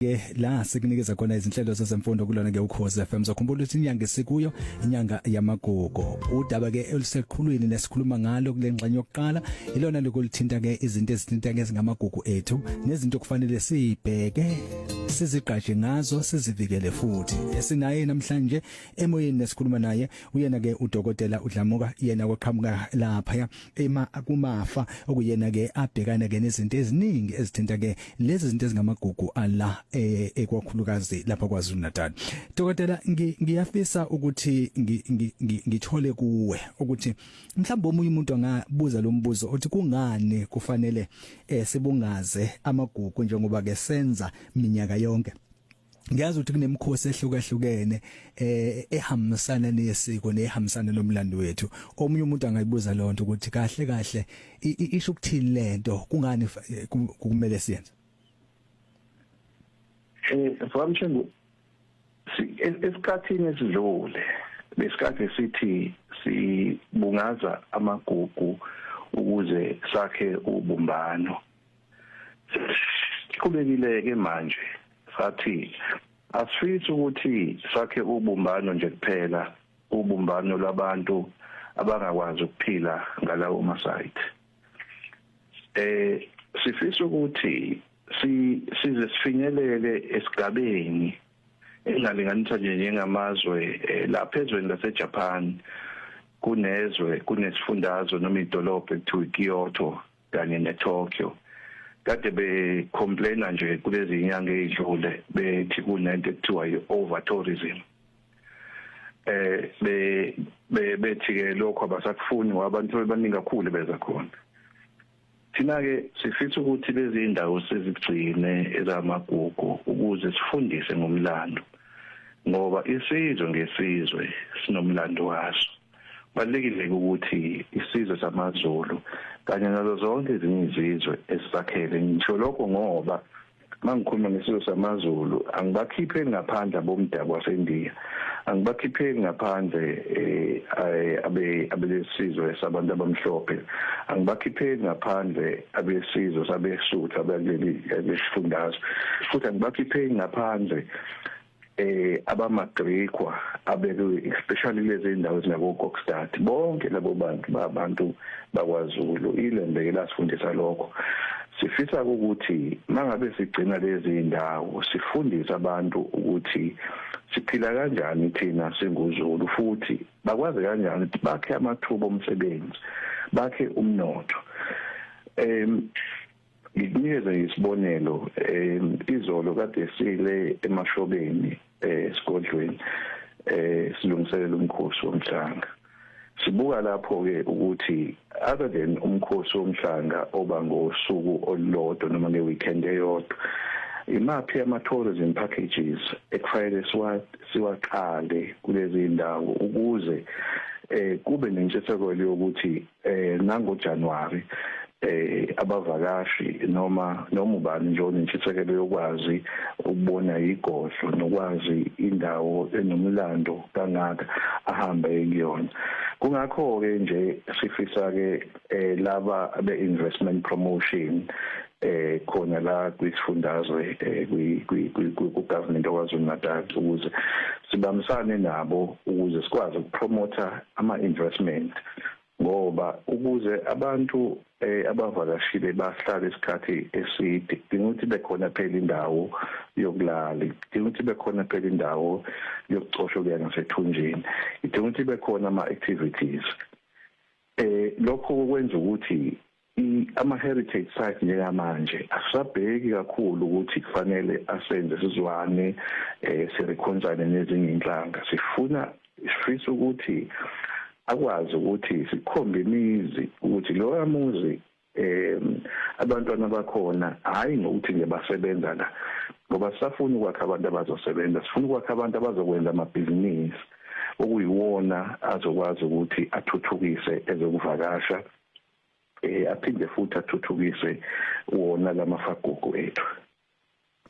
ke la sikunikeza khona izinhlelo zezemfundo kulona ke ukhoze FM zokhumbula ukuthi inyanga esikuyo inyanga yamagugu udaba ke oluseqhulwini nesikhuluma ngalo kulengxenye yokuqala ilona lokulithinta ke izinto ezithinta ke ngamagugu ethu nezinto kufanele sibheke sizigqaje ngazo sizivikele futhi esinaye namhlanje emoyeni nesikhuluma naye uyena ke udokotela udlamuka yena koqhamuka lapha ema kumafa okuyena ke abhekana ke nezinto eziningi ezithinta ke lezi zinto ezingamagugu ala eh, ekwakhulukazi lapha kwaZulu Natal dokotela ngiyafisa ukuthi ngithole kuwe ukuthi mhlawumbe omunye umuntu angabuza lo mbuzo othi kungani kufanele eh, sibungaze amagugu njengoba ke senza minyaka yonke ngiyazi ukuthi kunemikhosi ehlukahlukene eh ehambisana nesiko nehambisana nomlando wethu omunye umuntu angayibuza lonto ukuthi kahle kahle isho ukuthini lento kungani eh, kumele siyenze eh famshengu esikhathini esidlule lesikhathi sithi sibungaza amagugu ukuze sakhe ubumbano siqhubekile ke manje sathi asifisi ukuthi sakhe ubumbano nje kuphela ubumbano labantu abangakwazi ukuphila ngalawo masayithi eh sifisa ukuthi si size sifinyelele esigabeni engalinganisa nje njengamazwe eh, lapha ezweni laseJapan kunezwe kunesifundazwe noma idolobha ekuthiwa iKyoto kanye neTokyo kade becomplaina nje kulezi nyanga ezidlule bethi kunento ekuthiwa i-over tourism eh be bethi ke lokho abasakufuni ngoba abantu bebaningi kakhulu beza khona thina ke sifisa ukuthi lezi indawo sizigcine ezamagugu ukuze sifundise ngomlando ngoba isizwe ngesizwe sinomlando waso Kubalulekile ukuthi isizwe samaZulu kanye nazo zonke ezinye izizwe esisakhele ngisho lokho ngoba mangikhuluma ngesizwe samaZulu angibakhiphe ngaphandle abomdabu waseNdiya angibakhiphe ngaphandle eh, eh, abe abelesizwe sabantu abamhlophe angibakhiphe ngaphandle abesizwe sabesuthu abaleli lesifundazwe futhi angibakhiphe ngaphandle eh abamagrikhwa abekwe especially lezi indawo ezinabo Kokstad bonke labo bantu babantu bakwaZulu ilembe elasifundisa lokho sifisa ukuthi mangabe sigcina lezi indawo sifundise abantu ukuthi siphila kanjani thina singuZulu futhi bakwazi kanjani ukuthi bakhe amathuba omsebenzi bakhe umnotho em Ngikunikeze isibonelo eh izolo kade sile emashobeni eh sigodlweni eh silungiselela umkhosi womhlanga sibuka lapho ke ukuthi other than umkhosi womhlanga oba ngosuku olulodwa noma nge weekend eyodwa imaphi ama tourism packages ekufanele siwa siwaqale kulezi ndawo ukuze eh kube nentshisekelo yokuthi eh nango January eh abavakashi noma noma ubani nje onentshisekelo yokwazi ukubona igodlo nokwazi indawo enomlando kangaka ahambe kuyona kungakho ke nje sifisa ke eh, laba be investment promotion eh khona la kwisifundazwe eh, ku government oKwaZulu Natal ukuze sibambisane nabo ukuze sikwazi ukupromotha ama investment ngoba ukuze abantu eh abavakashile bahlale isikhathi eside kudinga ukuthi bekhona phela indawo yokulala kudinga ukuthi bekhona phela indawo yokucosha kuya ngasethunjini kudinga ukuthi bekhona ama activities eh lokho kwenza ukuthi ama-heritage site njengamanje asisabheki kakhulu ukuthi kufanele asenze sizwane um eh, sirekhonsane nezinye inhlanga sifuna sifisa ukuthi akwazi ukuthi sikhombe imizi ukuthi loya muzi um abantwana bakhona hhayi ngokuthi nje basebenza la ngoba sisafuna ukwakha abantu abazosebenza sifuna ukwakha abantu abazokwenza amabhizinisi okuyiwona azokwazi ukuthi athuthukise ezokuvakasha eh aphinde futhi athuthukise wona lamafagugu ethu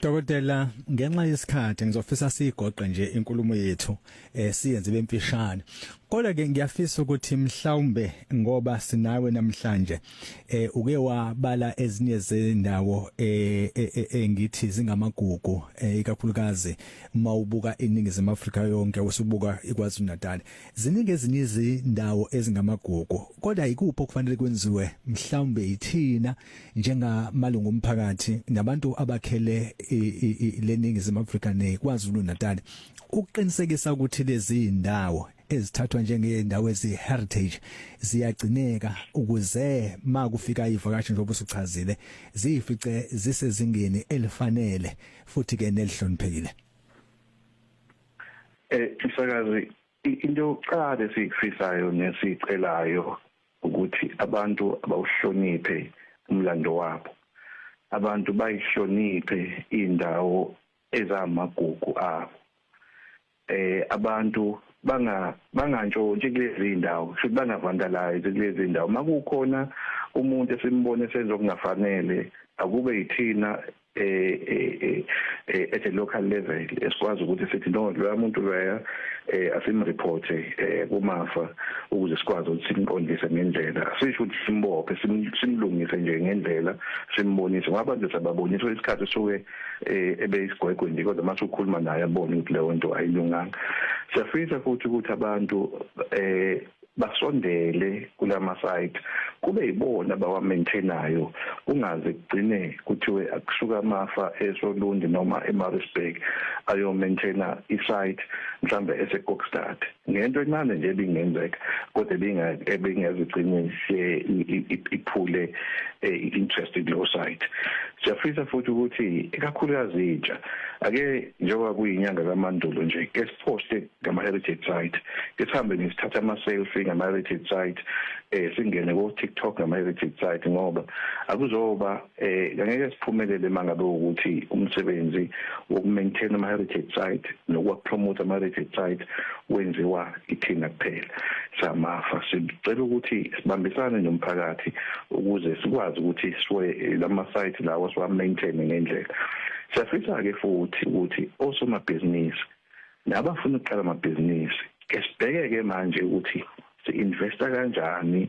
Dokotela ngenxa yesikhathi ngizofisa sigoqe nje inkulumo yethu eh siyenze bemfishane. Kodwa ke ngiyafisa ukuthi mhlawumbe ngoba sinawe namhlanje eh uke wabala ezinye zendawo eh, eh, eh, eh ngithi zingamagugu ikakhulukazi mawubuka iningizimu Afrika yonke usubuka iKwaZulu Natal. Ziningi ezinye izindawo ezingamagugu kodwa yikuphi okufanele kwenziwe mhlawumbe yithina njengamalungu omphakathi nabantu abakhele leningizimu Afrika neKwaZulu Natal ukuqinisekisa ukuthi lezi ndawo ezithathwa njengezindawo ezi-heritage ziyagcineka ukuze ma kufika ivakashi njengoba usuchazile ziyifice zisezingeni elifanele futhi-ke nelihloniphekile Eh msakazi into yokuqala esikufisayo nesicelayo ukuthi abantu abawuhloniphe umlando wabo abantu bayihloniphe indawo ezamagugu abo eh abantu banga bangantshontshe kulezi ndawo futhi bangavandalize kulezi ndawo makukhona umuntu esimbone senza okungafanele akube yithina eh, eh, eh, eh at a local level esikwazi ukuthi sithi no lo muntu loya eh asimreport eh kumafa ukuze sikwazi ukuthi simqondise ngendlela sisho ukuthi simbophe simlungise nje ngendlela simbonise ngoba nje sababonisa isikhathi soke eh ebe isigwegwe nje kodwa mase ukhuluma naye abone ukuthi leyo nto ayilunganga siyafisa futhi ukuthi abantu eh basondele kulama site kube yibona bawa maintainayo kungaze kugcine kuthiwe akusuka amafa eSolundi noma eMaritzburg ayo maintaina isite mhlambe eseKokstad ngento encane nje ebingenzeka kodwa ebinga ebingeziqinise iphule eh, interest kulo site siyafisa futhi ukuthi ikakhulukazi intsha ake njengoba kuyinyanga kaMandulo nje ke siposte ngama-heritage site ke sihambe nje sithathe ama-selfie ngama-heritage site eh singene ko-tiktok ngama-heritage site ngoba akuzoba eh angeke siphumelele uma ngabe ukuthi umsebenzi wokumaintain ama-heritage site nokuwapromota ama-heritage site wenziwa ithina kuphela samafa sicela ukuthi sibambisane nomphakathi ukuze sikwazi ukuthi siwe eh, lama-site lawo siwa-maintaine ngendlela siyafisa-ke futhi ukuthi osomabhizinisi nabafuna ukuqala amabhizinisi ke sibheke-ke manje ukuthi si-investa kanjani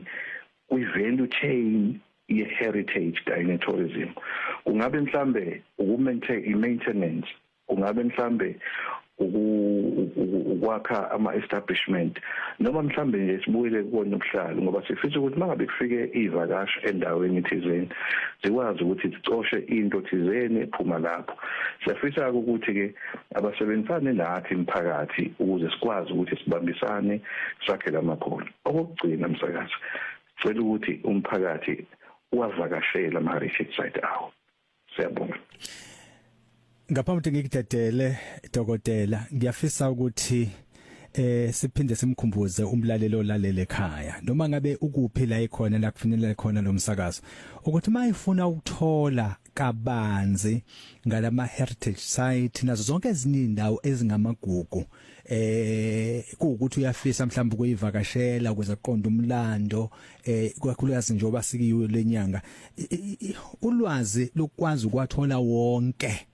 kwi-value chain ye-heritage kanye ne-tourism kungabe mhlambe uku-maintenance kungabe mhlambe ukwakha ama-establishment noma mhlambe nje sibuyele kubona ubuhlalo ngoba sifisa ukuthi mangabe kufike iy'vakashi endaweni thizeni zikwazi ukuthi zicoshe into thizeni ephuma lapho siyafisa-ke ukuthi-ke Abasebenzisane nathi mphakathi ukuze sikwazi ukuthi sibambisane sakhe lamakhono. Okokugcina msakazi, sicela ukuthi umphakathi wavakashela ama retreat site awo. Siyabonga. Ngaphambi ukuthi ngikudedele dokotela, ngiyafisa ukuthi eh siphinde simkhumbuze umlalelo olalele ekhaya noma ngabe ukuphi la ikhona la kufinyelela khona lo msakazo ukuthi mayifuna ukuthola kabanzi ngalama heritage site nazo zonke ezinye indawo ezingamagugu eh kuukuthi uyafisa mhlawumbe ukuyivakashela ukuze aqonde umlando eh kwakhulukazi njengoba sikiyo lenyanga ulwazi lokwazi ukwathola wonke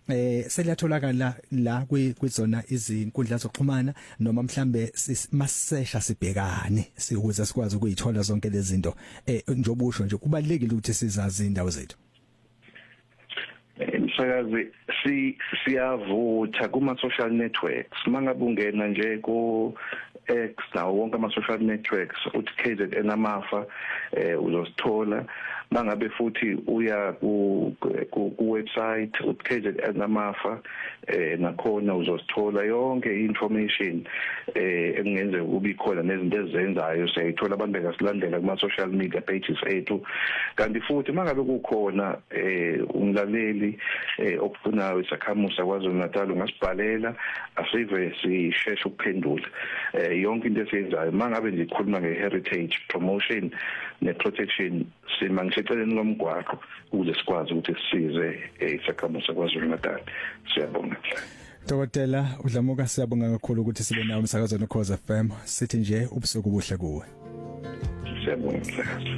eh seliyatholakala la kwizona izinkundla zokuxhumana noma mhlambe masesha sibhekane sikuze sikwazi ukuyithola zonke lezi zinto eh njengoba usho nje kubalekile ukuthi sizazi indawo zethu eh, msakazi si siyavutha kuma social networks mangabe ungena nje ku X nawo wonke ama social networks uthi KZN amafa eh uzosithola mangabe futhi uya ku ku website uthi KZN amafa eh nakhona uzosithola yonke information eh engenzeka ukuba ikhona nezinto ezenzayo siyayithola abantu bengasilandela kuma social media pages ethu kanti futhi mangabe kukhona eh umlaleli eh okufunayo isakhamusa kwaZulu Natal ungasibhalela asive sisheshe ukuphendula eh yonke into esiyenzayo mangabe ngikhuluma ngeheritage promotion neprotection sima ngiseceleni lomgwaqo ukuze sikwazi ukuthi sisize eh, isakhamuzi saKwaZulu Natal siyabonga Dokotela udlamuka siyabonga kakhulu ukuthi sibe nawe umsakazo noKhoza FM sithi nje ubusuku buhle kuwe Siyabonga msakazo